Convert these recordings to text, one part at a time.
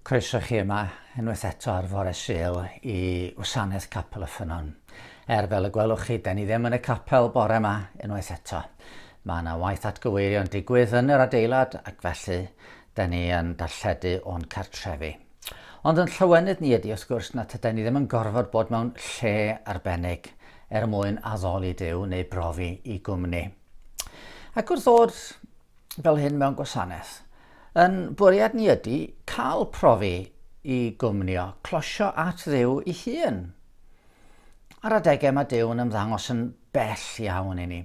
Croeso chi yma unwaith eto ar fore Sul i Wasanaeth Capel y Ffynnon. Er fel y gwelwch chi, da ni ddim yn y capel bore yma unwaith eto. Mae yna waith atgyweirio'n digwydd yn yr adeilad ac felly 'da ni yn darlledu o'n cartrefi. Ond yn llawenydd ni ydi, wrth gwrs, na tydan ni ddim yn gorfod bod mewn lle arbennig er mwyn addoli Duw neu brofi i gwmni. Ac wrth ddod fel hyn mewn gwasanaeth, yn bwriad ni ydi cael profi i gwmnio, closio at ddiw i hun. Ar adegau mae Duw yn ymddangos yn bell iawn i ni,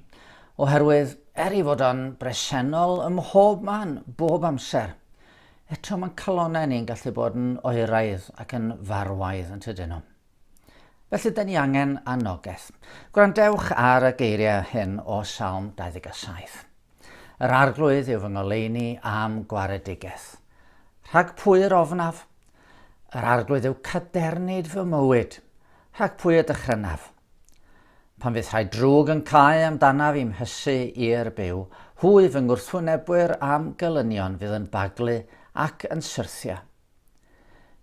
oherwydd er ei fod o'n bresennol ym mhob man, bob amser, eto mae'n calonnau ni'n gallu bod yn oeraidd ac yn farwaidd yn tydyn nhw. Felly, da ni angen anogaeth. Gwrandewch ar y geiriau hyn o Salm 27. Yr arglwydd yw fy ngoleuni am gwaredigaeth. Rhag pwy yr ofnaf? Yr arglwydd yw cadernid fy mywyd. Rhag pwy y dychrynaf? Pan fydd rhai drwg yn cau amdanaf i'm hysu i'r byw, hwy fy ngwrthwynebwyr a'm gelynion fydd yn baglu ac yn syrthio.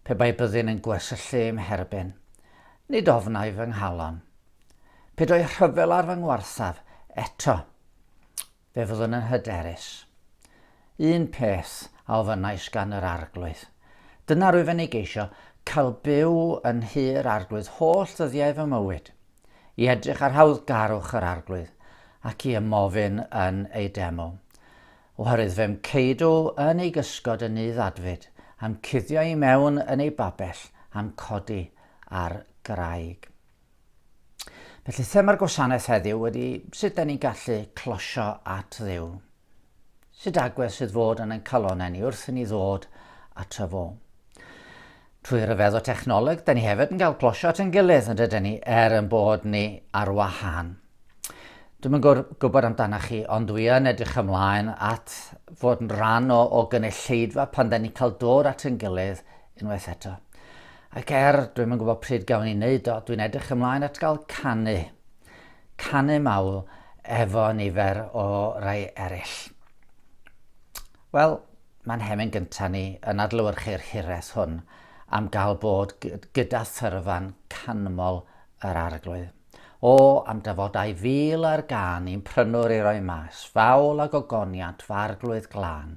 Pe bai byddin yn gwersyllu i'm herbyn, nid ofnai fy nghalon. Pe doi rhyfel ar fy ngwarthaf, eto Fe fyddwn yn hyderus. Un peth a ofynnais gan yr Arglwydd. Dyna rwyfen i geisio, cael byw yn nhy yr Arglwydd holl ddyddiau fy mywyd, i edrych ar hawddgarwch yr Arglwydd, ac i ymofyn yn ei deml. Oherwydd fe'm ceidw yn ei gysgod yn nydd adfyd, a'm cuddio i mewn yn ei babell, a'm codi ar graig. Felly thema'r gwasanaeth heddiw wedi sut da ni'n gallu closio at ddiw. Sut agwedd sydd fod yn ein calonau ni wrth i ni ddod at y fo. Trwy ryfedd o technoleg, da ni hefyd yn cael closio at yn gilydd yn dydyn ni er yn bod ni ar wahan. Dwi'n yn gwybod amdanoch chi, ond dwi yn edrych ymlaen at fod yn rhan o, o gynulleidfa pan da ni'n cael dod at yn gilydd unwaith eto. Ac er dwi'm yn gwybod pryd gawn ni wneud o, dwi'n edrych ymlaen at gael canu. Canu mawl efo nifer o rai eraill. Wel, mae'n nhemyn gyntaf ni yn adlewyrchu'r hiraeth hwn am gael bod gyda thyrfan canmol yr Arglwydd. O, am dafodau fil ar gân i'n prynwr i roi mas, fawl a gogoniant f'Arglwydd glân.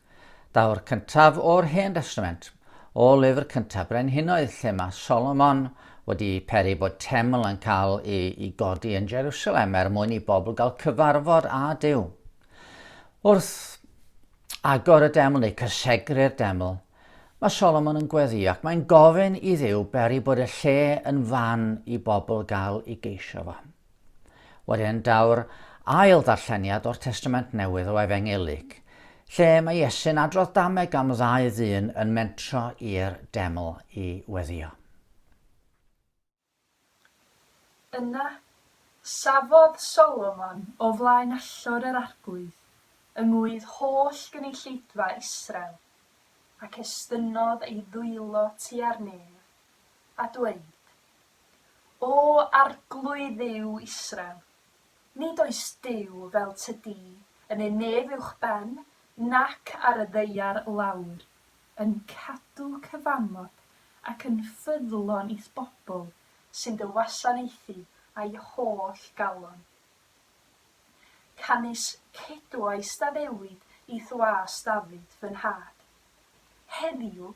Daw'r cyntaf o'r Hen Destament o lyfr cyntaf Brenhinoedd lle mae Solomon wedi peri bod teml yn cael ei godi yn Jerusalem er mwyn i bobl gael cyfarfod â Duw. Wrth agor y deml neu cysegru'r deml, mae Solomon yn gweddio ac mae'n gofyn i Dduw beri bod y lle yn fan i bobl gael ei geisio fo. Wedyn daw'r ail ddarlleniad o'r Testament Newydd o Efengylig, lle mae Iesu'n adrodd dameg am ddau ddyn yn mentro i'r deml i weddio. Yna, safodd Solomon o flaen allor yr arglwydd yng ngŵydd holl gynulleidfa Israel, ac estynnodd ei ddwylo tua'r nef, a dweud, O Arglwydd yw Israel, nid oes Duw fel tŷ di yn ei nef uwchben nac ar y ddaear lawr, yn cadw cyfamod ac yn ffyddlon i'th bobl sy'n dy wasanaethu â'i holl galon. Canys cedwais d'addewid i'th was Dafydd fy nhad, Heddiw,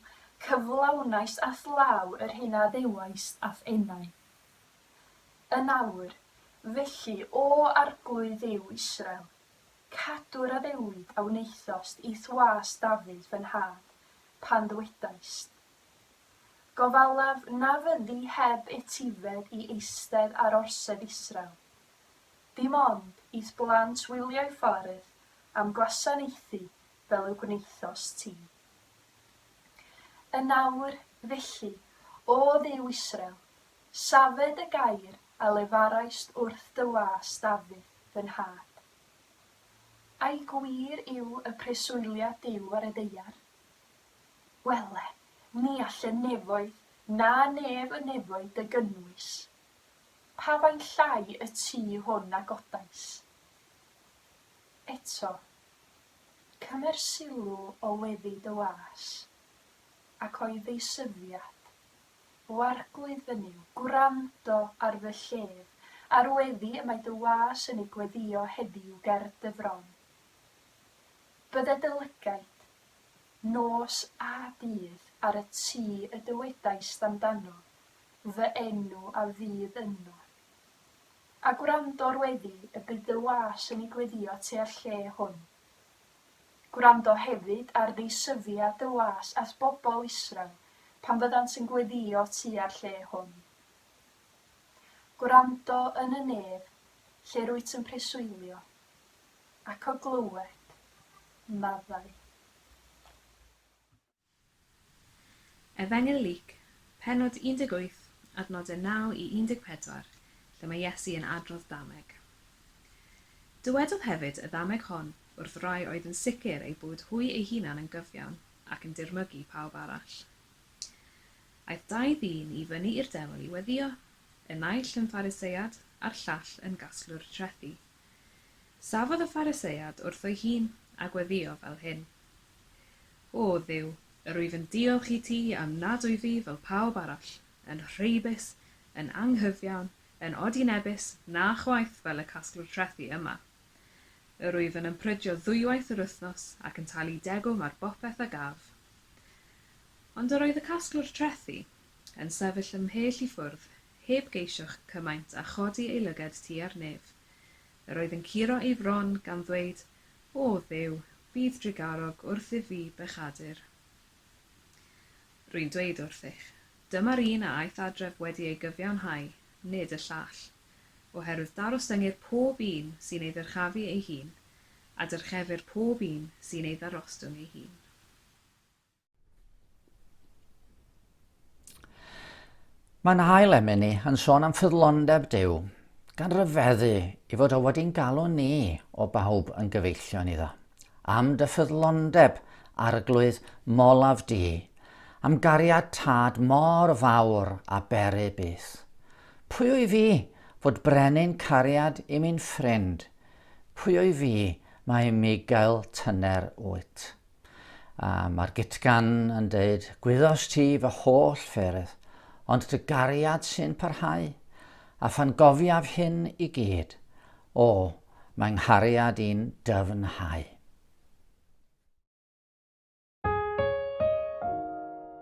cyflawnais a'th law yr hyn a ddeuais a'th enau. Yn awr, felly, O Arglwydd Dduw Israel, cadw'r addewid a wnaethost i'th was Dafydd fy nhad, pan ddwedaist, Gofalaf na fyddi heb etifedd i eistedd ar orsedd Israel, dim ond i'th blant wylio'i ffordd am gwasanaethu fel y gwnaethost ti. Yn awr, felly, o Dduw Israel, safe dy gair a lefaraist wrth dy was Dafydd, fy nhad. Ai gwir yw y preswyliad Duw ar y ddaear? Wele, ni all y nefoedd na nef y nefoedd dy gynnwys. Pa faint llai y tu hwn a godais? Eto, Cymer sylw o weddi dy was, ac o'i ddeisyfiad. O Arglwydd fy Nuw, gwrando ar fy llef, a'r weddi y mae dy was yn ei gweddio heddiw ger dy fron. Bydde dy lygaid, nos a dydd, ar y tŷ y dywedaist amdano, fy enw a fydd ynddo, A gwrando'r weddi y bydd dy was yn ei gweddio tua'r lle hwn. Gwrando hefyd ar ddeisyfiad dy was at bobl Israel pan fyddant yn gweddio tua'r lle hwn. Gwrando yn y nef lle rwyt yn preswylio, ac o glywed, maddau. Efengyl Luc, pennod 18, adnodau 9 i 14, lle mae Iesu yn adrodd ddameg. Dywedodd hefyd y ddameg hon wrth rai oedd yn sicr eu bod hwy eu hunan yn gyfiawn ac yn dirmygu pawb arall. Aeth dau ddyn i fyny i'r Defl i weddio, y naill yn Phariseiad a'r llall yn gasglwr trethi. Safodd y Phariseiad wrtho'i hun, a gweddïo fel hyn, O Dduw, yr wyf yn diolch i ti am nad wyf i fel pawb arall, yn rheibus, yn anghyfiawn, yn odinebus, na chwaith fel y casglwr trethi yma. Yr wyf yn ymprydio ddwywaith yr wythnos, ac yn talu degwm ar bopeth a gaf. Ond yr oedd y casglwr trethi yn sefyll ymhell i ffwrdd, heb geisio'ch cymaint â chodi ei lyged ti ar nef. Yr oedd yn curo ei fron, gan ddweyd, O, Dduw, bydd drugarog wrthyf fi bechadur. Rwy'n dweyd wrthych, dyma'r un a aeth adref wedi ei gyfiawnhau, nid y llall. Oherwydd darostyngir pob un sy'n ei ddyrchafu ei hun, a dyrchefir pob un sy'n ei ddarostwng ei hun. Mae yna ail emeni yn sôn am ffyddlondeb Duw, gan ryfeddu i fod o wedi'n galw ni o bawb yn gyfeillion iddo. Am dy ffyddlondeb, arglwydd molaf di, am gariad tad mor fawr a beru byth. Pwy wy fi fod brenin cariad i mi'n ffrind? Pwy wy fi mae Migael tyner wyt? A mae'r gytgan yn dweud, Gwyddos ti fy holl ffyrdd, ond dy gariad sy'n parhau. A phan gofiaf hyn i gyd, o, mae nghariad i'n dyfnhau.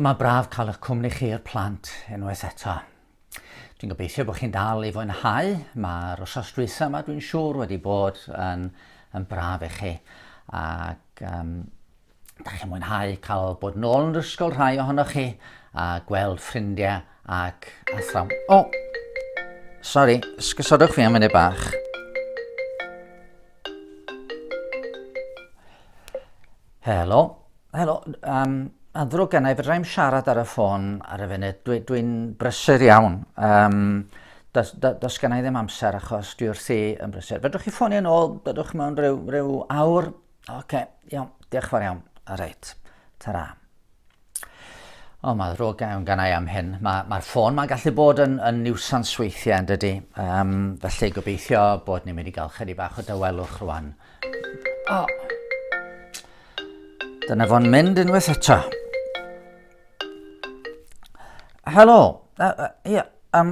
Mae braf cael eich cwmni chi i'r plant unwaith eto. Dwi'n gobeithio bod chi'n dal i fwynhau. Mae'r osos dwytha yma dwi'n siŵr wedi bod yn, yn braf i chi. Ac um, Dach chi'n mwynhau cael bod yn ôl yn yr ysgol rhai ohonoch chi a gweld ffrindiau ac athrawn. O! Oh, sorry, sgysodwch fi am munud bach. Helo, helo, um, adrwg gennau, fydra i'n siarad ar y ffôn ar y funud, dwi'n dwi, brysur iawn. Um, dos, dos, dos gennau ddim amser achos dwi wrthi yn brysur. Fedrwch chi ffonio yn ôl, dydwch mewn rhyw, rhyw awr, Oce, okay, iawn. Diolch fawr iawn. A reit. Ta-ra. O, oh, mae ddrwg iawn gan i am hyn. Mae'r ma ffôn mae'n gallu bod yn, yn niwsans weithiau yn dydy. Um, felly gobeithio bod ni'n mynd i gael chydig bach o dawelwch rwan. O! Oh. Dyna fo'n mynd unwaith eto. Helo. Yy yy ie yym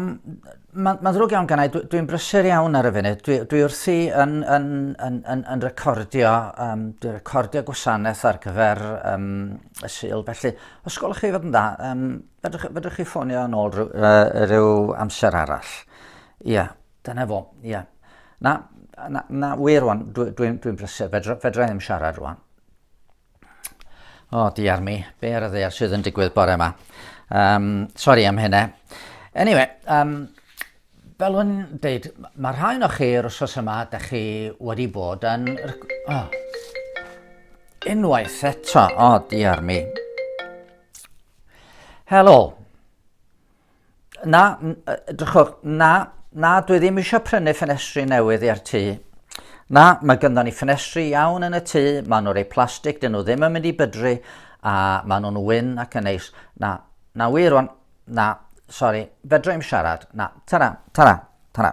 ma' ma'n ddrwg iawn gennai dwi dwi'n brysur iawn ar y funud dwi dwi wrthi yn yn yn yn yn recordio yym dwi recordio gwasanaeth ar gyfer yym y Sul felly os gwelwch chi fod yn dda yym fedrwch fedrwch chi ffonio yn ôl rhyw yy ryw amser arall. Ie dyna fo ie. Na na na wir rwan dwi dwi'n dwi'n brysur fedra fedra i ddim siarad rwan. O, oh, diar mi. Be ar y ddear sydd yn digwydd bore yma? Um, sorry am hynna. Anyway, um, fel yn dweud, mae rhai o chi yr wrsos yma, da chi wedi bod yn... Oh. Unwaith eto, o, oh, diar mi. Helo. Na, drychwch, na, na, dwi ddim eisiau prynu ffenestri newydd i'r tŷ. Na, mae gynddon ni ffenestri iawn yn y tŷ, maen nhw'n rhoi plastig, dyn nhw ddim yn mynd i bydru, a maen nhw'n wyn ac yn neis. Na, na wir o'n, na, sori, fedra i'm siarad, na, tara, tara. Tana.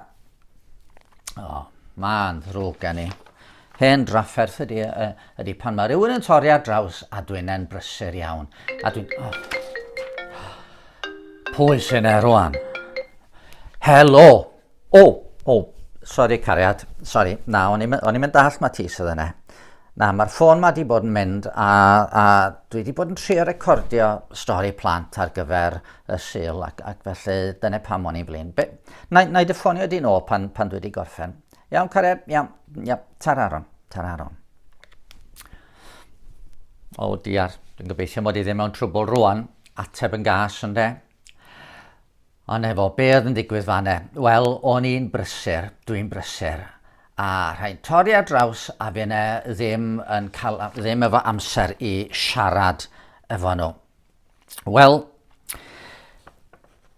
O, oh, mae'n ddrwg gen i. Hen drafferth ydy, uh, ydy pan mae rhywun yn torri ar draws a dwi'n e'n brysur iawn. A dwi'n... Oh. Pwy sy'n e rwan? Helo! O, oh, o, oh. sori cariad, sori. Na, o'n i'n mynd dall mae ti sydd yna. Na, mae'r ffôn ma wedi bod yn mynd a, a dwi wedi bod yn trio recordio stori plant ar gyfer y Sul ac, ac felly dyna pam o'n i'n flin. Be, na, na i dy ffonio di nôl pan, pan dwi wedi gorffen. Iawn, Cared? Iawn, iawn. Tar aron, tar aron. O, diar, dwi'n gobeithio mod i ddim mewn trwbl rwan, ateb yn gas yn de. O ne fo, be oedd yn digwydd fanne? Wel, o'n i'n brysur, dwi'n brysur. A rhaid torri ar draws a fi yna ddim, yn cael, ddim efo amser i siarad efo nhw. Wel,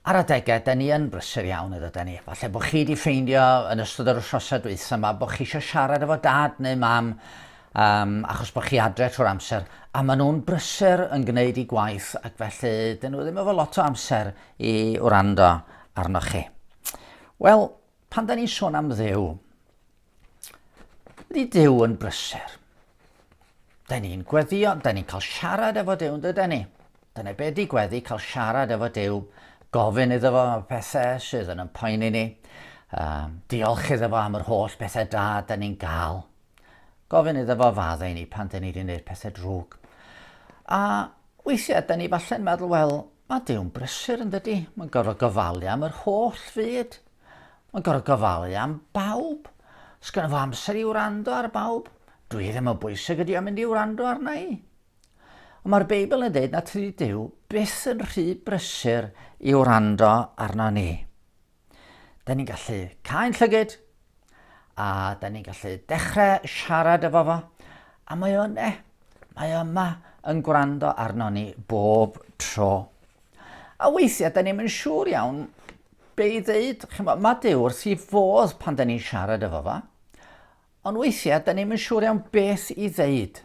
ar adegau, da ni yn brysur iawn ydw da ni. Falle bod chi wedi ffeindio yn ystod yr wythnosau dweitha yma bod chi eisiau siarad efo dad neu mam um, achos bod chi adre trwy'r amser, a maen nhw'n brysur yn gwneud i gwaith ac felly dyn nhw ddim efo lot o amser i wrando arnoch chi. Wel, Pan da ni'n sôn am ddew, ydy dew yn brysur. Da ni'n gweddio, da ni'n cael siarad efo dew, dyda ni. Dyna be di gweddi, cael siarad efo dew, gofyn iddo fo am pethau sydd yn ympoeni ni, um, diolch iddo fo am yr holl bethau da da ni'n gael, gofyn iddo fo faddau ni pan da ni wedi gwneud pethau drwg. A weithiau, da ni falle'n meddwl, wel, mae dew'n brysur yn dydy, mae'n gorfod gofalu am yr holl fyd. Mae'n gorfod gofalu am bawb. Sgynno fo amser i wrando ar bawb. Dwi ddim yn bwysig ydi o'n mynd i wrando arna i. Ond mae'r Beibl yn dweud na tydi Dyw byth yn rhy brysur i wrando arno ni. Da ni'n gallu cael llygyd a da ni'n gallu dechrau siarad efo fo a mae o'n e, mae o yma yn gwrando arno ni bob tro. A weithiau, da ni'n mynd siŵr iawn be i ddeud. Chymod, mae Dyw wrth i fodd pan da ni'n siarad efo fa. Ond weithiau, da ni'n mynd siŵr iawn beth i ddeud.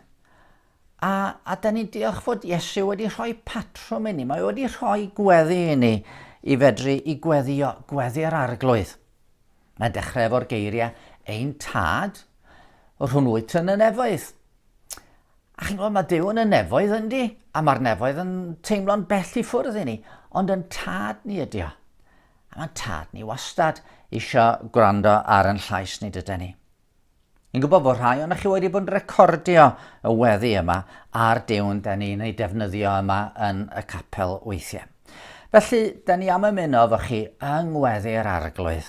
A, a da ni'n diolch fod Iesu wedi rhoi patrwm i ni. Mae wedi rhoi gweddi i ni i fedru i gweddio, gweddi'r arglwydd. Mae'n dechrau efo'r geiriau, ein tad, rhwng wyt yn y nefoedd. A chi'n gwybod, mae Duw yn y nefoedd yndi, a mae'r nefoedd yn teimlo'n bell i ffwrdd i ni, ond yn tad ni ydi o. A mae'n tad ni wastad eisiau gwrando ar yn llais ni dydy ni. Yn gwybod bod rhai o'n chi wedi bod yn recordio y weddi yma a'r dewn da ni'n ei defnyddio yma yn y capel weithiau. Felly, da ni am ymuno efo chi yng ngweddi'r arglwydd.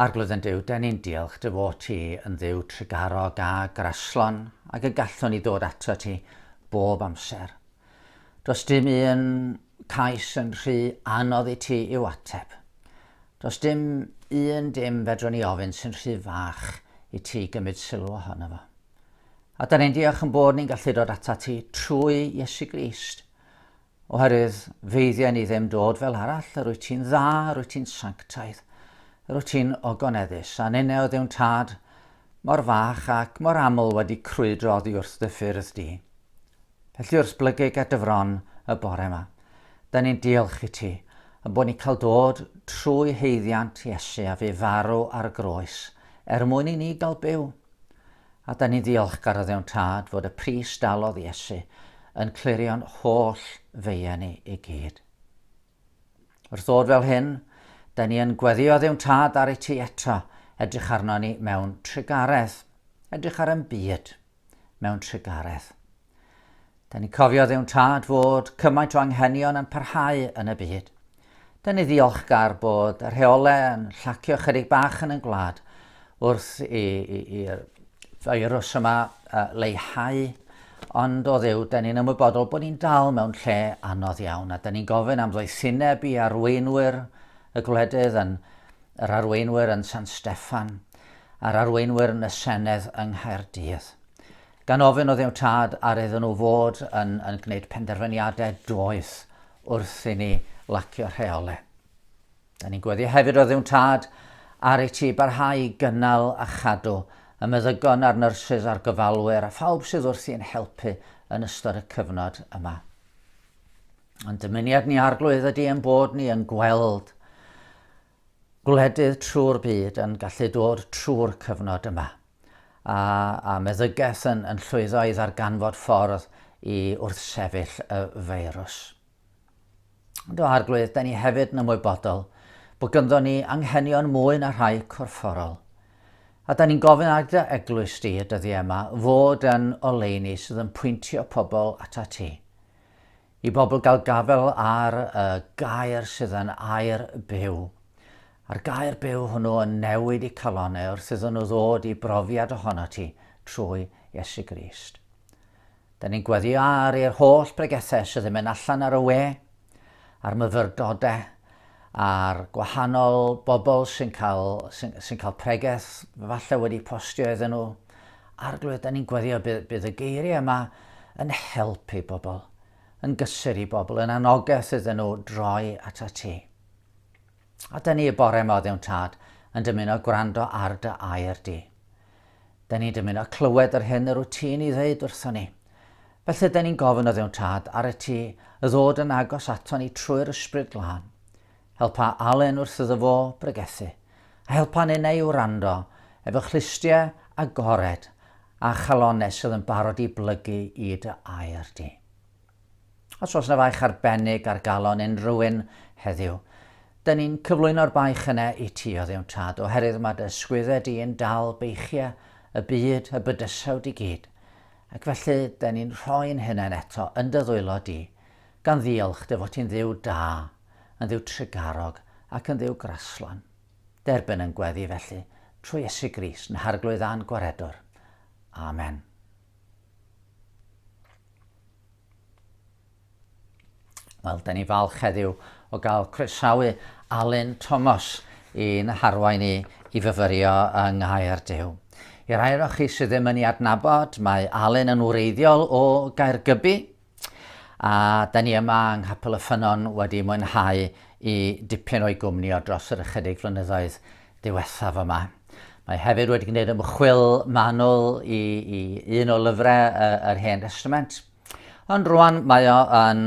Arglwydd yn Duw, dyn ni'n diolch dy fod ti yn dduw trugarog a graslon ac y gallwn ni ddod ato ti bob amser. Does dim un cais yn rhy anodd i ti i'w ateb. Does dim un dim fedrwn ni ofyn sy'n rhy fach i ti gymryd sylw ohono fo. A da ni'n diolch yn bod ni'n gallu dod ato ti trwy Iesu Grist. Oherwydd feiddia ni ddim dod fel arall, yr wyt ti'n dda, yr wyt ti'n sanctaidd, yr wyt ti'n ogoneddus, a ninne oedd yw'n tad, mor fach ac mor aml wedi crwydro oddi wrth dy ffyrdd di. Felly wrth blygig at dy fron y bore yma, da ni'n diolch i ti, yn bod ni'n cael dod trwy heiddiant Iesu a fu farw ar y groes, er mwyn i ni gael byw. A da ni'n ddiolchgar o ddewn tad fod y pris dalodd Iesu yn clirio'n holl feia ni i gyd. Wrth ddod fel hyn, da ni yn gweddio ddewn tad ar ei ti eto, edrych arno ni mewn trigaredd, edrych ar yn byd mewn trigaredd. Da ni cofio ddewn tad fod cymaint o anghenion yn parhau yn y byd. Da ni ddiolchgar bod y rheolau yn llacio chydig bach yn y gwlad wrth i'r feirws yma leihau, ond o ddew, da ni'n ymwybodol bod ni'n dal mewn lle anodd iawn, a da ni'n gofyn am ddoethineb i arweinwyr y gwledydd yn yr arweinwyr yn San Steffan a'r arweinwyr yn y Senedd yng Nghaerdydd. Gan ofyn oedd eu tad ar iddyn nhw fod yn yn gwneud penderfyniadau doeth wrth i ni lacio rheolau. Da ni'n gweddio hefyd oedd eu tad ar ei ti barhau i gynnal a chadw y meddygon a'r nyrsys a'r gofalwyr a phawb sydd wrthi yn helpu yn ystod y cyfnod yma. Ond dymuniad ni arglwydd ydy ein bod ni yn gweld Gwledydd trwy'r byd yn gallu dod trwy'r cyfnod yma, a, a meddygaeth yn, yn llwyddo i ddarganfod ffordd i wrthsefyll y feirws. Ond o arglwydd, da ni hefyd yn ymwybodol bod gynddo ni anghenion mwy na rhai corfforol. A da ni'n gofyn ar dy eglwys di y dyddiau yma fod yn oleuni sydd yn pwyntio pobl at ti. I bobl gael gafael ar y gair sydd yn air byw. A'r gair byw hwnnw yn newid y calonau wrth iddyn nhw ddod i brofiad ohono ti trwy Iesu Grist. Da ni'n gweddio ar i'r holl bregethau sydd yn mynd allan ar y we, a'r myfyrdodau, a'r gwahanol bobl sy'n cael, sy'n, sy'n cael pregeth, falle wedi postio iddyn nhw. Arglwydd, da ni'n gweddio bydd, bydd y geiriau yma yn helpu bobl, yn gysur i bobl, yn anogaeth iddyn nhw droi at y ti. A da ni y bore yma o ddewn tad yn dymuno gwrando ar dy air di. Dyn ni'n dymuno clywed yr hyn yr wyt ti'n ei ddeud wrthon ni. Felly dyn ni'n gofyn o Dduw'n Tad, ar y ti, y ddod yn agos ato ni trwy'r Ysbryd Glân. Helpa Alun wrth iddo fo bregethu, a helpa ninnau i wrando, efo chlustiau agored a chalonnau sydd yn barod i blygu i dy air di. Os oes 'na faich arbennig ar galon unrhywun heddiw, 'da ni'n cyflwyno'r baich yna i ti oddiw'n tad, oherwydd mae dy sgwydde di yn dal beichiau y byd, y bydysawd i gyd, ac felly 'da ni'n rhoi'n hunain eto yn dy ddwylo di, gan ddiolch dy fod ti'n Dduw da, yn Dduw trugarog, ac yn Dduw graslon. Derbyn yn gweddi felly, trwy Iesu Grist, yn Harglwydd a'n Gwaredwr. Amen. Wel, da ni falch heddiw o gael croesawu Alun Tomos i'n harwain i i fyfyrio yng Nghaer Dyw. I rai o'r chi sydd ddim yn ei adnabod, mae Alun yn wreiddiol o Gaergybi, a da ni yma yng Nghapel y Ffynnon wedi mwynhau i dipyn o'i gwmni o dros yr ychydig flynyddoedd diwethaf yma. Mae hefyd wedi gwneud ymchwil manwl i, i un o lyfrau uh, yr Hen Testament. Ond rwan mae o yn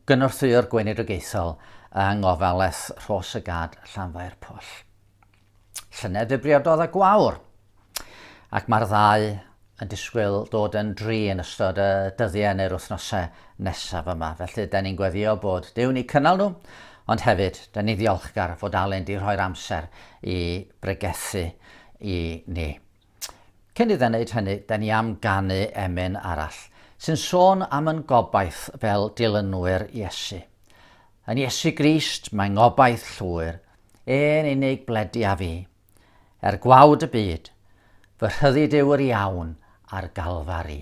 gynorthwyo'r gweinidogaethol yng ngofales Rhos y Gad Llanfair Pwll. Llynedd fe briododd y gwawr. ac mae'r ddau yn disgwyl dod yn dri yn ystod y dyddiau neu'r wythnosau nesaf yma. Felly, da ni'n gweddio bod Duw'n eu cynnal nhw, ond hefyd, da ni'n ddiolchgar fod Alun di rhoi'r amser i bregethu i ni. Cyn iddo wneud hynny, da ni am ganu emyn arall, sy'n sôn am yn gobaith fel dilynwyr Iesu. Yn Iesu Grist mae ngobaith llwyr, e'n unig bledi a fi. Er gwawd y byd, fy rhyddid yw yr iawn ar Galfari.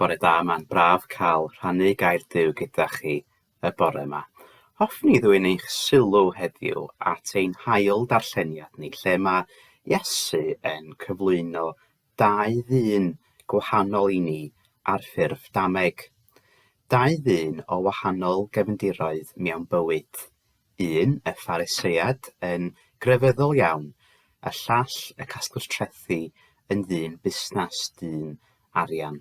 Bore da, mae'n braf cael rhannu gair Duw gyda chi y bore yma. Hoffwn i ddwyn eich sylw heddiw at ein hail darlleniad ni, lle mae Iesu yn cyflwyno dau ddyn gwahanol i ni ar ffurf dameg. Dau ddyn o wahanol gefndiroedd mewn bywyd. un, y Phariseiad, yn grefyddol iawn, y llall, y casglwr trethi, yn ddyn busnes, dyn arian.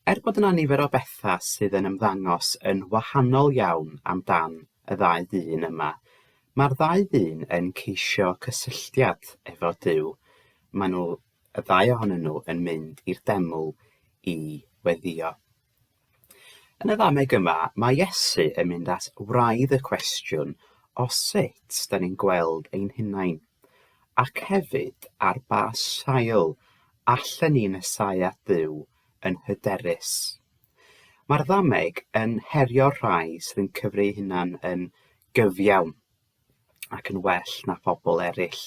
Er bod yna nifer o bethau sydd yn ymddangos yn wahanol iawn amdan y ddau ddyn yma, mae'r ddau ddyn yn ceisio cysylltiad efo Duw. Maen nhw, y ddau ohonyn nhw, yn mynd i'r deml i weddio. Yn y ddameg yma, mae Iesu yn mynd at wraidd y cwestiwn o sut da ni'n gweld ein hunain, ac hefyd ar ba sail allen ni nesáu at Dduw yn hyderus. Mae'r ddameg yn herio'r rhai sydd yn cyfri'u hunan yn gyfiawn. ac yn well na phobl eraill.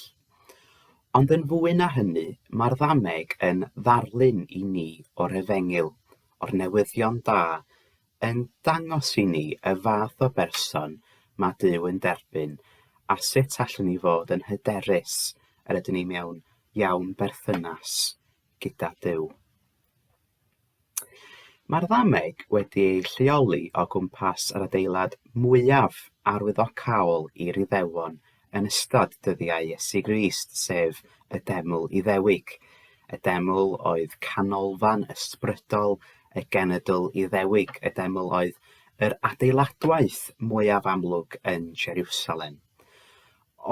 Ond yn fwy na hynny, mae'r ddameg yn ddarlun i ni o'r efengyl, o'r newyddion da, yn dangos i ni y fath o berson mae Duw yn derbyn a sut allwn ni fod yn hyderus yr ydyn ni mewn iawn berthynas gyda Duw. Mae'r ddameg wedi ei lleoli o gwmpas yr adeilad mwyaf arwyddocaol i'r Iddewon yn ystod dyddiau Iesu Grist, sef y Deml Iddewig. Y Deml oedd canolfan ysbrydol y genedl Iddewig, y Deml oedd yr adeiladwaith mwyaf amlwg yn Jeriwsalem.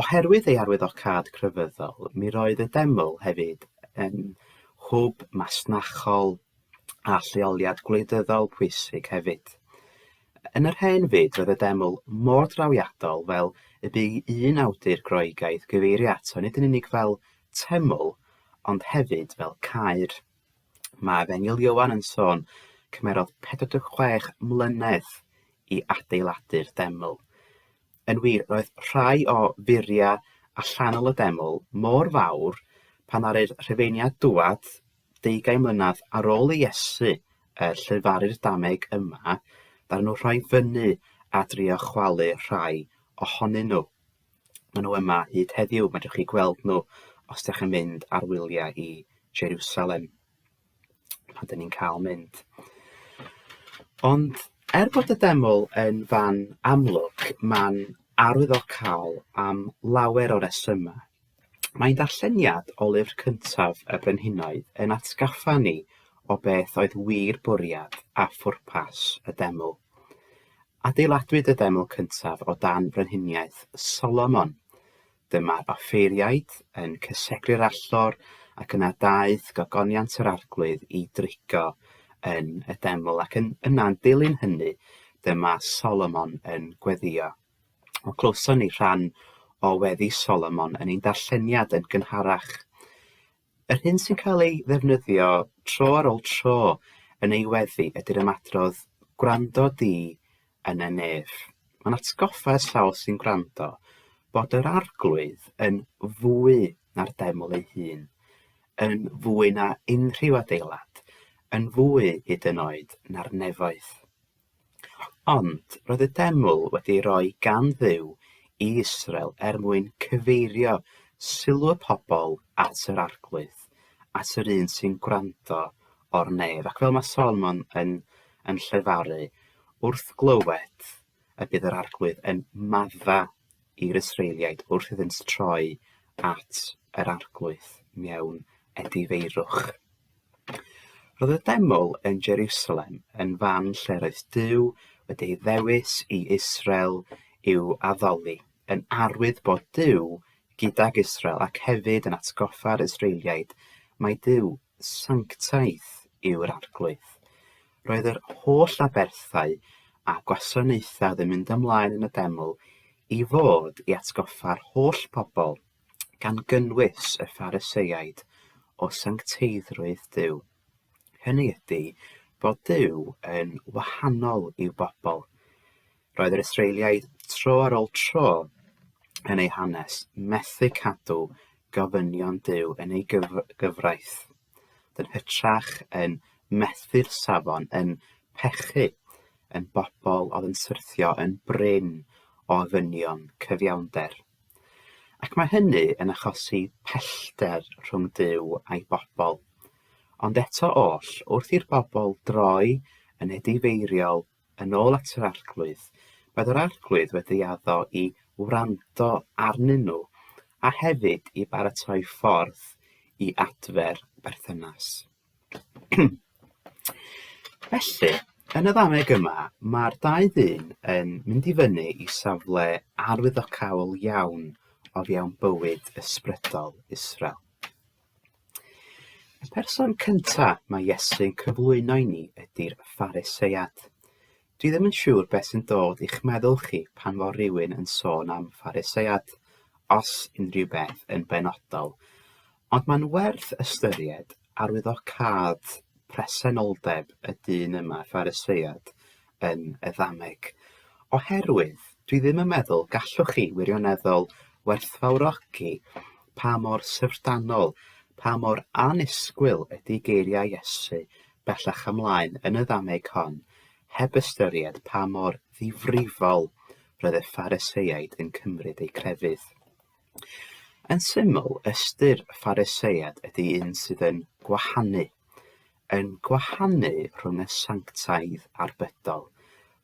Oherwydd ei arwyddocâd crefyddol, mi roedd y deml hefyd yn hwb masnachol a lleoliad gwleidyddol pwysig hefyd. Yn yr hen fyd, roedd y deml mor drawiadol fel y bu un awdur Groegaidd gyfeirio ato nid yn unig fel teml, ond hefyd fel caer. Mae Fenil Ioan yn sôn, cymerodd 46 mlynedd i adeiladu'r deml. Yn wir, roedd rhai o furia allanol y deml mor fawr pan aru'r Rhufeiniaid dwad deugain mlynedd ar ôl i Iesu er llefaru'r dameg yma, ddaru nhw rhoi fyny a drio chwalu rhai ohonyn nhw. Maen nhw yma hyd heddiw, mae chi gweld nhw os ydych chi'n mynd ar wyliau i Jerusalem, pan dyn ni'n cael mynd. Ond er bod y deml yn fan amlwg, mae'n arwyddocaol am lawer o resymau. Mae'n darlleniad o lyfr cyntaf y Brenhinoedd yn atgaffa ni o beth oedd wir bwriad a phwrpas y deml. Adeiladwyd y deml cyntaf o dan frenhiniaeth Solomon. Dyma'r offeiriaid yn cysegru'r allor ac yna daeth gogoniant yr Arglwydd i dreigo yn y deml ac yn yna'n dilyn hynny dyma Solomon yn gweddio. O clywson ni rhan o weddi Solomon yn ein darlleniad yn gynharach. Yr hyn sy'n cael ei ddefnyddio tro ar ôl tro yn ei weddi ydy'r ymadrodd 'gwrando di yn y nef'. Mae'n atgoffa y sawl sy'n gwrando bod yr Arglwydd yn fwy na'r deml ei hun, yn fwy na unrhyw adeilad, yn fwy hyd yn oed na'r nefoedd. Ond roedd y deml wedi ei roi gan Dduw i Israel er mwyn cyfeirio sylw y pobl at yr Arglwydd, at yr un sy'n gwrando o'r nef. Ac fel mae Solomon yn, yn llefaru, wrth glywed y bydd yr Arglwydd yn madda i'r Israeliaid wrth iddynt troi at yr Arglwydd mewn edifeirwch. Roedd y deml yn Jeriwsalem yn fan lle roedd Duw wedi ei ddewis i Israel i'w addoli, yn arwydd bod Duw gydag Israel ac hefyd yn atgoffa'r Israeliaid mai Duw sanctaidd yw'r Arglwydd. Roedd yr holl aberthau a gwasanaethau oedd yn mynd ymlaen yn y deml i fod i atgoffa'r holl pobl gan gynnwys y Phariseiaid, o sancteiddrwydd Duw, hynny ydy, bod Duw yn wahanol i'w bobl. Roedd yr Israeliaid tro ar ôl tro yn eu hanes methu cadw gofynion Duw yn ei gyf gyfraith. Yn hytrach yn methu'r safon yn pechu yn bobl oedd yn syrthio yn brin o ofynion cyfiawnder. Ac mae hynny yn achosi pellter rhwng Duw a'i bobl. Ond eto oll, wrth i'r bobl droi yn edifeiriol yn ôl at yr arglwydd, bydd yr arglwydd wedi addo i wrando arnyn nhw a hefyd i baratoi ffordd i adfer perthynas. Felly, yn y ddameg yma, mae'r dau ddyn yn mynd i fyny i safle arwyddocaol iawn o fewn bywyd ysbrydol Israel. Y person cynta mae Iesu'n cyflwyno i ni ydy'r Phariseiad. Dwi ddim yn siŵr beth sy'n dod i'ch meddwl chi pan fo rhywun yn sôn am Phariseiad, os unrhyw beth yn benodol. Ond mae'n werth ystyried arwyddocâd presenoldeb y dyn yma, Phariseiad yn y ddameg, oherwydd dwi ddim yn meddwl gallwch chi wirioneddol werthfawrogi pa mor syfrdanol, pa mor annisgwyl ydy geiriau Iesu bellach ymlaen yn y ddameg hon, heb ystyried pa mor ddifrifol roedd y Phariseiaid yn cymryd eu crefydd. Yn syml, ystyr Phariseiad ydy un sydd yn gwahanu, yn gwahanu rhwng y sanctaidd a'r bydol.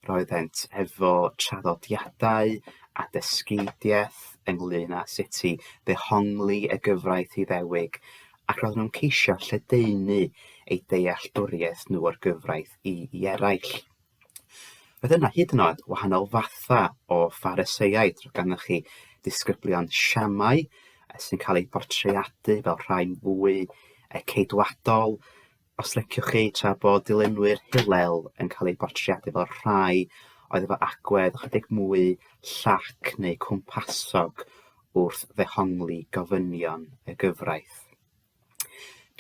Roeddent efo traddodiadau a dysgeidiaeth ynglyn â sut i ddehongli y gyfraith Iddewig, ac roedden nhw'n ceisio lledaenu eu dealltwriaeth nhw o'r gyfraith i, i eraill. Roedd yna hyd yn oed wahanol fathau o Phariseiaid, roedd ganddoch chi disgyblion siamau sy'n cael eu portreadu fel rhai'n fwy ceidwadol, os liciwch chi, tra bod dilynwyr Hillel yn cael eu portreadu fel rhai oedd efo agwedd ychydig mwy llac neu cwmpasog wrth ddehongli gofynion y gyfraith.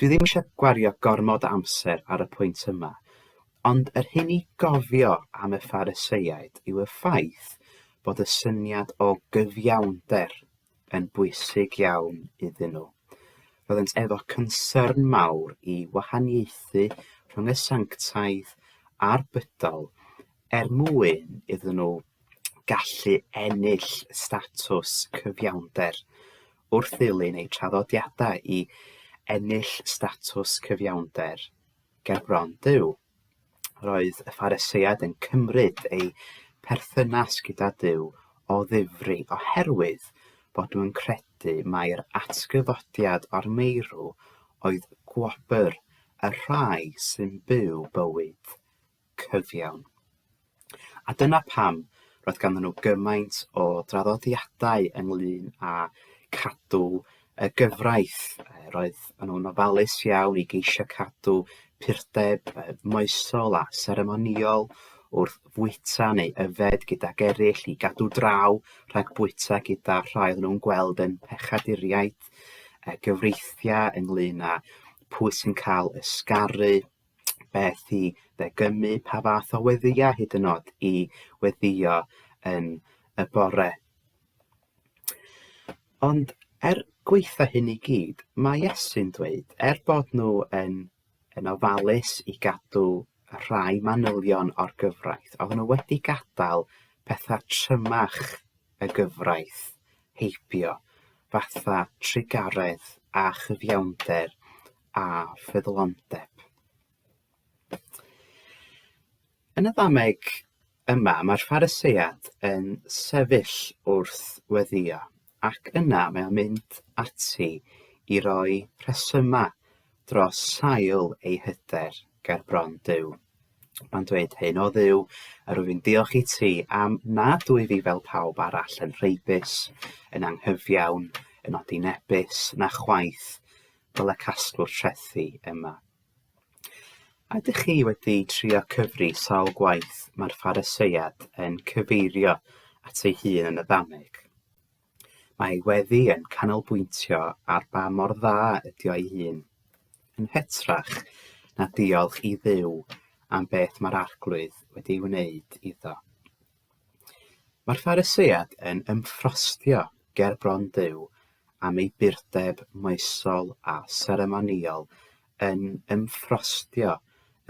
Dwi ddim eisiau gwario gormod o amser ar y pwynt yma, ond yr hyn i gofio am y Phariseiaid yw y ffaith bod y syniad o gyfiawnder yn bwysig iawn iddyn nhw. Roeddent efo concern mawr i wahaniaethu rhwng y sanctaidd a'r bydol er mwyn iddyn nhw gallu ennill statws cyfiawnder. Wrth ddilyn eu traddodiadau i ennill statws cyfiawnder ger bron Duw, roedd y Phariseiaid yn cymryd eu perthynas gyda Duw o ddifri oherwydd bod nhw'n credu mai'r atgyfodiad o'r meirw oedd gwobr y rhai sy'n byw bywyd cyfiawn. A dyna pam roedd ganddyn nhw gymaint o draddodiadau ynglyn â cadw y gyfraith. Roedd nhw'n ofalus iawn i geisio cadw purdeb moesol a seremoniol wrth fwyta neu yfed gydag eraill i gadw draw rhag bwyta gyda rhai oedd nhw'n gweld yn pechaduriaid, gyfreithiau ynglyn â pwy sy'n cael ysgaru, beth i ddegynnu, pa fath o weddïau hyd yn oed i weddïo yn y bore. Ond er gweitha hyn i gyd, mae Iesu'n dweud, er bod nhw yn, yn ofalus i gadw rhai manylion o'r gyfraith, oedden nhw wedi gadael pethau trymach y gyfraith heibio, fatha trugaredd a chyfiawnder a ffyddlondeb. Yn y ddameg yma, mae'r Phariseiad yn sefyll wrth weddio, ac yna mae o'n mynd ati i roi rhesymau dros sail ei hyder ger bron Duw. Mae'n dweud hyn, o Dduw, a rwyf i'n diolch i ti am nad wyf i fel pawb arall yn rheibus, yn anghyfiawn, yn odinebus, na chwaith fel y casglwr trethi yma. Ydych chi wedi trio cyfri sawl gwaith mae'r Phariseiad yn cyfeirio at ei hun yn y ddameg? Mae ei weddi yn canolbwyntio ar ba mor dda ydy o'i hun, yn hytrach na diolch i ddew am beth mae'r arglwydd wedi ei wneud iddo. Mae'r Phariseiad yn ymffrostio ger bron Duw am ei burdeb moesol a seremonïol, yn ymffrostio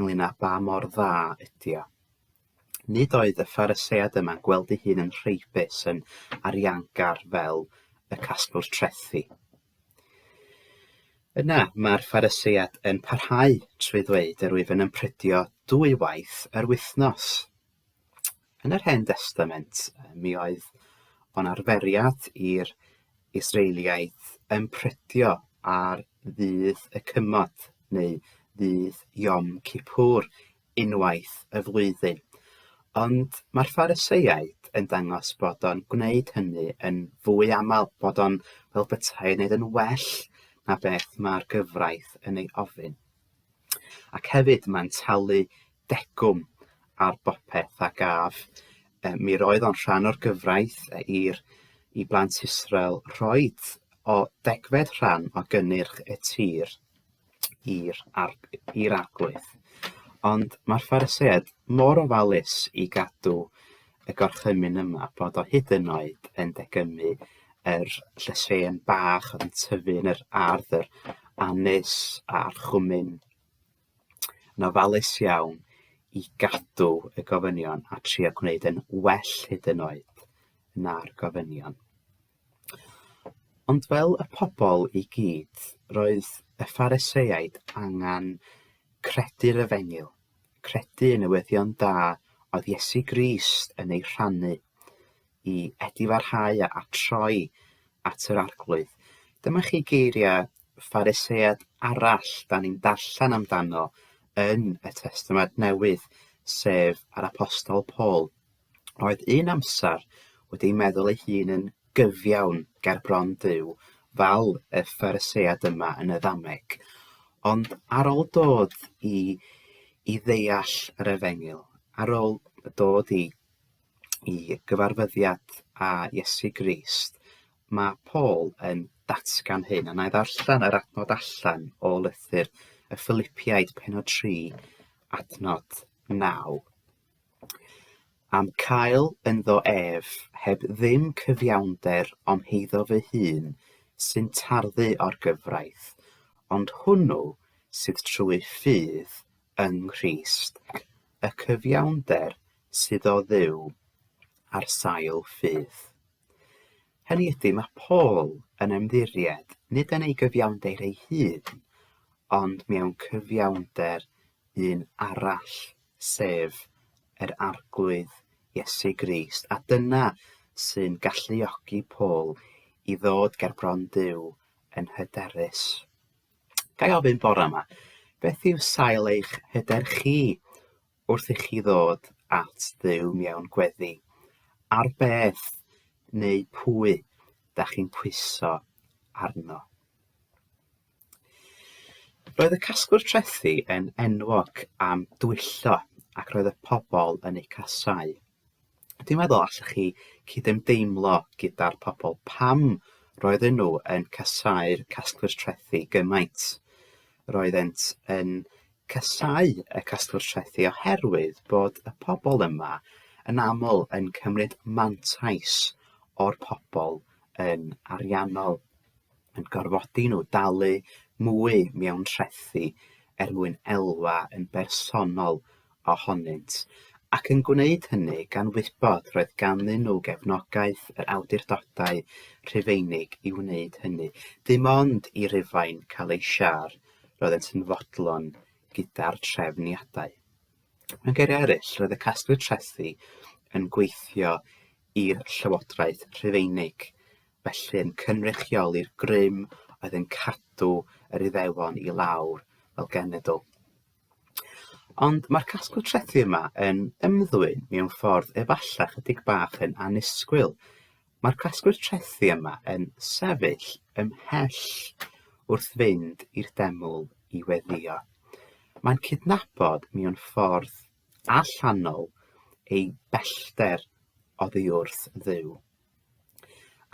ynglŷn â ba mor dda ydy o. Nid oedd y Phariseiad yma'n gweld ei hun yn rheibus, yn ariangar fel y casglwr trethi. Yna mae'r Phariseiad yn parhau trwy ddweud yr wyf yn ymprydio dwy waith yr wythnos. Yn yr Hen Destament, mi oedd o'n arferiad i'r Israeliaid ympredio ar ddydd y cymod neu ddydd Yom Kippur unwaith y flwyddyn. Ond mae'r Phariseiaid yn dangos bod o'n gwneud hynny yn fwy aml, bod o'n fel bethau yn neud yn well na beth mae'r gyfraith yn ei ofyn. Ac hefyd mae'n talu degwm ar bopeth a gaf. Yy mi roedd o'n rhan o'r gyfraith yy i'r i blant Israel rhoid o degfed rhan o gynnyrch y tir i'r ar- i'r arglwydd. Ond mae'r Phariseaid mor ofalus i gadw y gorchymyn yma bod o hyd yn oed yn degymmu yr llysen bach oedd yn tyfu yn yr ardd yr anes a'r chwmyn yn ofalus iawn i gadw y gofynion a trio gwneud yn well hyd yn oed na'r gofynion. Ond fel y pobl i gyd, roedd y Phariseaid angen credu'r efengyl, credu yn y weddion da oedd Iesu Grist yn ei rhannu, i edifarhau a a troi at yr Arglwydd. Dyma chi geiriau Pharisead arall da ni'n darllen amdano yn y Testament Newydd, sef yr Apostol Paul. Roedd un amser wedi ei meddwl ei hun yn gyfiawn ger bron Duw, fel y Pharisead yma yn y ddameg. Ond ar ôl dod i, i ddeall yr efengyl, ar ôl dod i i gyfarfyddiad â Iesu Grist, mae Paul yn datgan hyn, a na i ddarllen yr adnod allan o lythyr y Philippiaid penod 3, adnod 9. Am cael ynddo ef, heb ddim cyfiawnder ond heiddo fy hun, sy'n tarddu o'r gyfraith, ond hwnnw sydd trwy ffydd yng Nghrist, y cyfiawnder sydd o Dduw ar sail ffydd. Hynny ydy, mae Paul yn ymddiried nid yn ei gyfiawnder ei hun, ond mewn cyfiawnder un arall, sef yr Arglwydd Iesu Grist, a dyna sy'n galluogi Paul i ddod ger bron Duw yn hyderus. Ga i ofyn bore yma, beth yw sail eich hyder chi wrth i chi ddod at ddew mewn gweddi? Ar beth neu pwy da chi'n pwyso arno? Roedd y casgwr trethi yn enwog am dwyllo ac roedd y pobl yn eu casau. Dwi'n meddwl allwch chi cydymdeimlo gyda'r pobl pam roedden nhw yn casau'r casglwyr trethi gymaint. Roeddent yn casau y casglwyr trethi oherwydd bod y pobl yma yn aml yn cymryd mantais o'r pobl yn ariannol. yn gorfodi nhw dalu mwy mewn trethi er mwyn elwa yn bersonol ohonynt, ac yn gwneud hynny gan wybod roedd ganddyn nhw gefnogaeth yr awdurdodau Rhufeinig i wneud hynny. Dim ond i Rufain cael ei siâr, roeddent yn fodlon gyda'r trefniadau. Mewn geiriau eraill, roedd y casglu trethi yn gweithio i'r Llywodraeth Rhufeinig, felly yn cynrychioli'r grym oedd yn cadw yr Iddewon i lawr fel genedl. Ond mae'r casglu trethi yma yn ymddwyn mewn ffordd efallai chydig bach yn anusgwyl. Mae'r casglu'r trethi yma yn sefyll ymhell wrth fynd i'r deml i weddio. Mae'n cydnabod mewn ffordd allanol ei bellter oddi wrth dduw.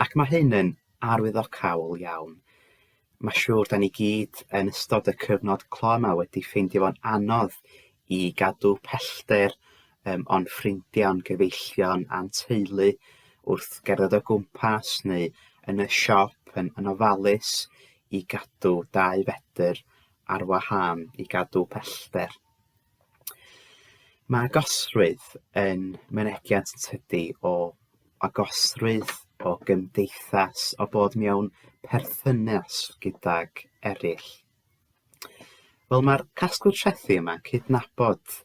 Ac mae hyn yn arwyddocaol iawn. Mae siŵr da ni gyd yn ystod y cyfnod clo yma wedi ffeindio fo'n anodd i gadw pellter um, o'n ffrindiau, o'n gyfeillion a'n teulu wrth gerdded o gwmpas neu yn y siop yn, yn ofalus i gadw dau fedr ar wahân, i gadw pellter. Mae agosrwydd yn mynegiant tydi o agosrwydd, o gymdeithas, o bod mewn perthynas gydag eraill. Wel, mae'r casglu trethi yma'n cydnabod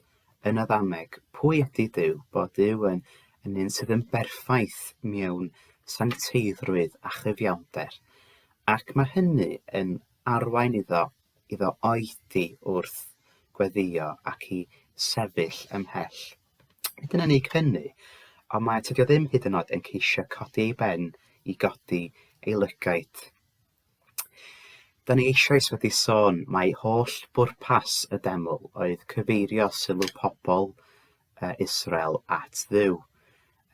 yn y ddameg pwy ydy Dyw, bod Dyw yn, yn un sydd yn berffaith mewn sancteiddrwydd a chyfiawnder, ac mae hynny yn arwain iddo iddo oedi wrth gweddïo ac i sefyll ymhell. Nid yn unig hynny, ond mae tydi o ddim hyd yn oed yn ceisio codi ei ben i godi ei lygaid. Da ni eisoes wedi sôn mae holl bwrpas y deml oedd cyfeirio sylw pobl uh, Israel at ddiw.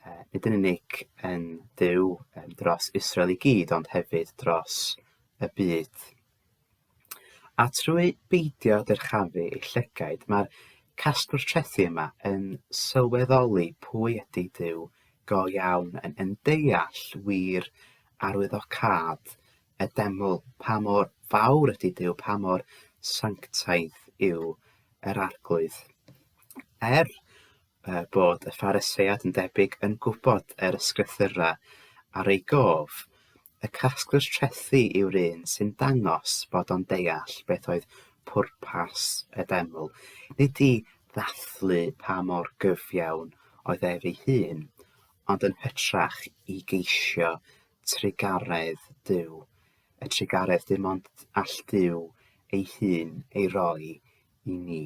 Uh, nid yn unig yn ddiw um, dros Israel i gyd, ond hefyd dros y byd. A trwy beidio dyrchafu ei llygaid, mae'r casglwr trethi yma yn sylweddoli pwy ydy Duw go iawn, yn yn deall wir arwyddocâd y deml, pa mor fawr ydy Duw, pa mor sanctaidd yw yr Arglwydd. Er uh, bod y Phariseiad yn debyg yn gwybod yr ysgrythyrau ar ei gof, Y casglwr trethi yw'r un sy'n dangos bod o'n deall beth oedd pwrpas y deml, nid i ddathlu pa mor gyfiawn oedd ef ei hun, ond yn hytrach i geisio trugaredd Duw, y trugaredd dim ond all Duw ei hun ei roi i ni.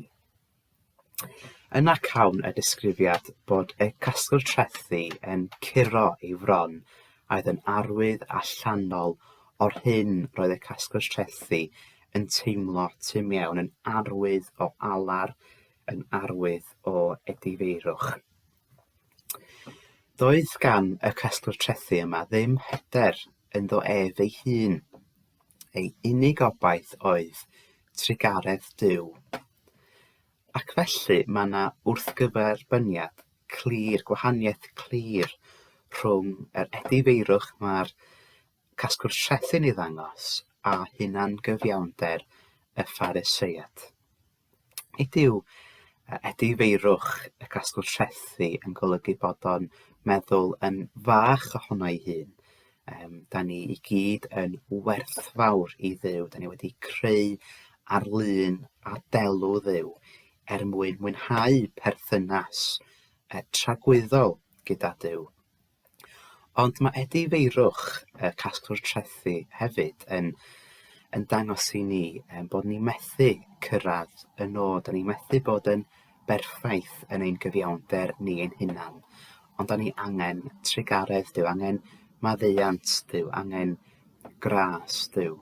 Yna cawn y disgrifiad bod y casgl trethi yn curo ei fron a'd yn arwydd allanol o'r hyn roedd y casgl trethi yn teimlo tu mewn, yn arwydd o alar, yn arwydd o edifeirwch. Doedd gan y casgl trethi yma ddim hyder ynddo ef ei hun. Ei unig obaith oedd trugaredd Duw. Ac felly mae yna wrthgyferbyniad clir, gwahaniaeth clir rhwng yr edifeirwch mae'r casgwr trethi'n ei ddangos a hunangyfiawnder y Phariseiad. Nid yw edifeirwch y casgwr trethi yn golygu bod o'n meddwl yn fach ohono ei hun, Yym, dan ni i gyd yn werthfawr i Dduw. Dan ni wedi creu ar lun a delw Dduw er mwyn mwynhau perthynas e, tragwyddol gyda Duw. Ond mae Edi Feirwch, y casglwr trethi, hefyd yn, yn dangos i ni um, bod ni methu cyrraedd y nod. Da ni methu bod yn berffaith yn ein cyfiawnder ni ein hunan, ond dan ni angen trugaredd Duw, angen maddeuant Duw, angen gras Duw.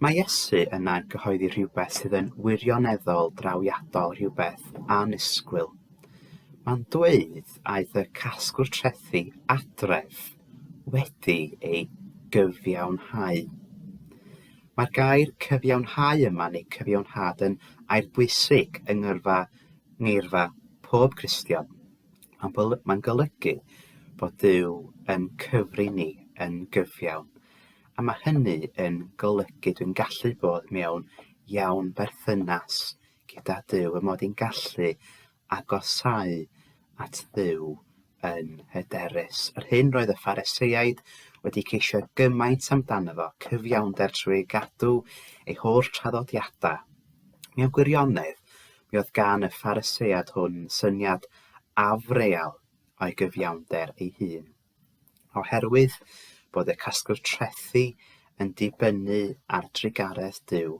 Mae Iesu yna'n cyhoeddi rhywbeth sydd yn wirioneddol drawiadol, rhywbeth anusgwyl. Mae'n dweud aeth y casgwr trethi adref wedi ei gyfiawnhau. Mae'r gair 'cyfiawnhau' yma, neu 'cyfiawnhad', yn air bwysig yng ngyrfa ngeirfa pob Cristion. Mae'n golygu bod Duw yn cyfri ni yn gyfiawn, a mae hynny yn golygu dwi'n gallu bod mewn iawn berthynas gyda Duw, y mod i'n gallu agosáu at Dduw yn hyderus. Yr hyn roedd y Phariseiaid wedi ceisio gymaint amdano fo, cyfiawnder trwy ei gadw ei holl traddodiadau. Mewn gwirionedd, mi oedd gan y Phariseiad hwn syniad afreal o'i gyfiawnder ei hun. Oherwydd bod y casgwr trethi yn dibynnu ar drugaredd Duw,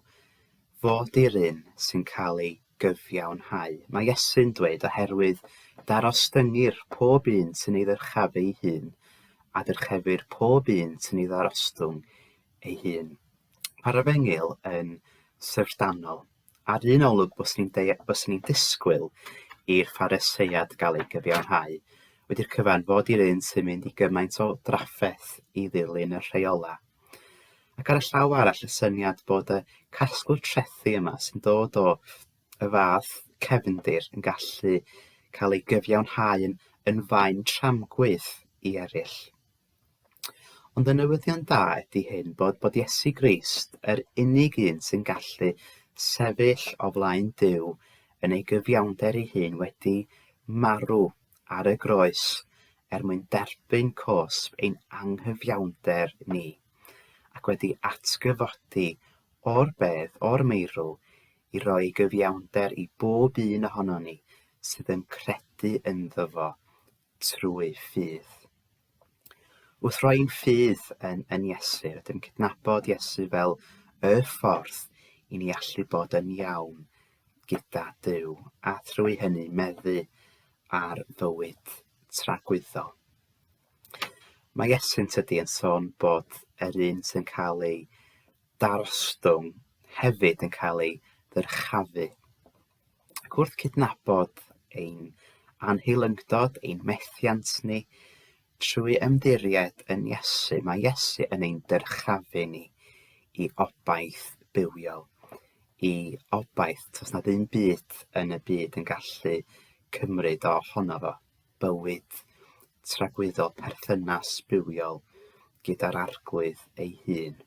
fod i'r un sy'n cael ei gyfiawnhau. Mae Iesu'n dweud, oherwydd darostyngir pob un sy'n ei ddyrchaf ei hun, a dyrchefir pob un sy'n ei ddarostwng ei hun. Mae'r efengyl yn syfrdanol. Ar un olwg byswn i'n deu- byswn i'n disgwyl i'r Phariseiad gael ei gyfiawnhau, wedi'r cyfan fod i'r un sy'n mynd i gymaint o drafferth i ddilyn y rheolau. Ac ar y llaw arall y syniad bod y casglu trethi yma sy'n dod o y fath cefndir yn gallu cael ei gyfiawnhau yn, yn faen tramgwydd i eraill. Ond y newyddion da ydy hyn, bod, bod Iesu Grist yr unig un sy'n gallu sefyll o flaen Duw yn ei gyfiawnder ei hun wedi marw ar y groes er mwyn derbyn cosb ein anghyfiawnder ni, ac wedi atgyfodi o'r bedd, o'r meirw, i roi gyfiawnder i bob un ohono ni sydd yn credu ynddo fo. trwy ffydd. Wrth roi ein ffydd yn, yn Iesu, rydym yn cydnabod Iesu fel y ffordd i ni allu bod yn iawn gyda Dyw, a thrwy hynny meddu ar fywyd tragwyddol. Mae Iesu'n tydi yn sôn bod yr un sy'n cael ei darostwng hefyd yn cael ei ddyrchafu. ac wrth cydnabod ein anheilyngdod, ein methiant ni, trwy ymddiried yn Iesu, mae Iesu yn ein dyrchafu ni i obaith bywiol, i obaith, tos nad un byd yn y byd yn gallu cymryd o honno fo, bywyd tragwyddol perthynas bywiol gyda'r arglwydd ei hun.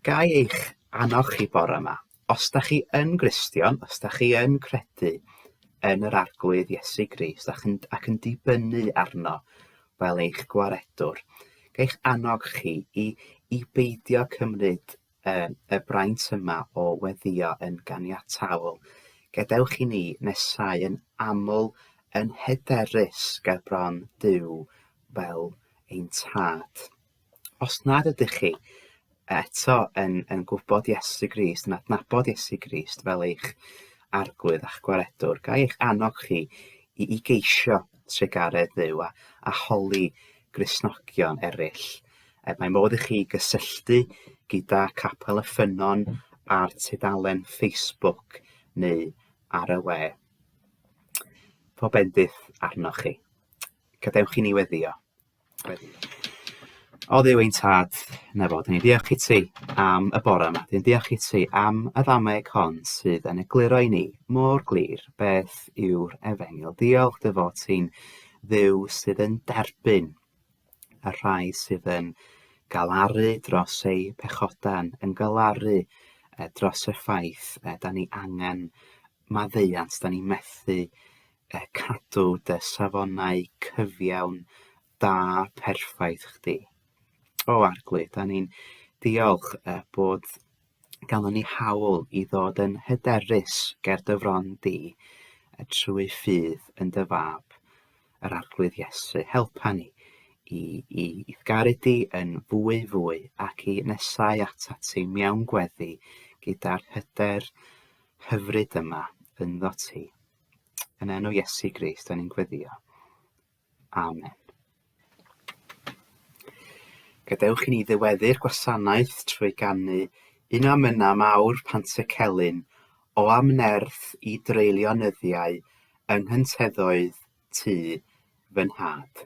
Ga i eich annog chi bore yma, os da chi yn Gristion, os da chi yn credu yn yr Arglwydd Iesu Grist ac yn, ac yn dibynnu arno fel eich gwaredwr, ga eich annog chi i, i beidio cymryd uh, y braint yma o weddio yn ganiataol. Gadewch i ni nesau yn aml yn hyderus ger bron Dyw fel ein tad. Os nad ydych chi eto yn, yn gwybod Iesu Grist, yn adnabod Iesu Grist fel eich arglwydd a'ch gwaredwr, ga eich annog chi i, i geisio tregaredd ddew a, a holi grisnogion eraill. E, mae modd i chi gysylltu gyda Capel y Ffynnon ar tudalen Facebook neu ar y we. Pob bendith arnoch chi. Gadewch i ni weddio. O dduw ein tad, na fo, dyn ni'n diolch i ti am y bore yma. Dyn ni'n diolch i ti am y ddameg hon sydd yn egluro i ni mor glir beth yw'r efengil. Diolch dy fod ti'n dduw sydd yn derbyn y rhai sydd yn galaru dros eu pechodau, yn galaru eh, dros y ffaith eh, da ni angen maddeuant, da ni methu a cadw dy safonau cyfiawn da perffaith chdi. O Arglwydd, da ni'n diolch y bod ganddo ni hawl i ddod yn hyderus ger dy fron di a trwy ffydd yn dy fab, yr Arglwydd Iesu. Helpa ni i, i, i garu di yn fwy fwy ac i nesau ata ti mewn gweddi gyda'r hyder hyfryd yma ynddo ti. Yn enw Iesu Grist, da ni'n gweddio. Amen. Gadewch i ni ddyweddu'r gwasanaeth trwy gannu un am yna mawr pant y celyn o amnerth i dreulio nyddiau yng nghyntedoedd tu fy nhad.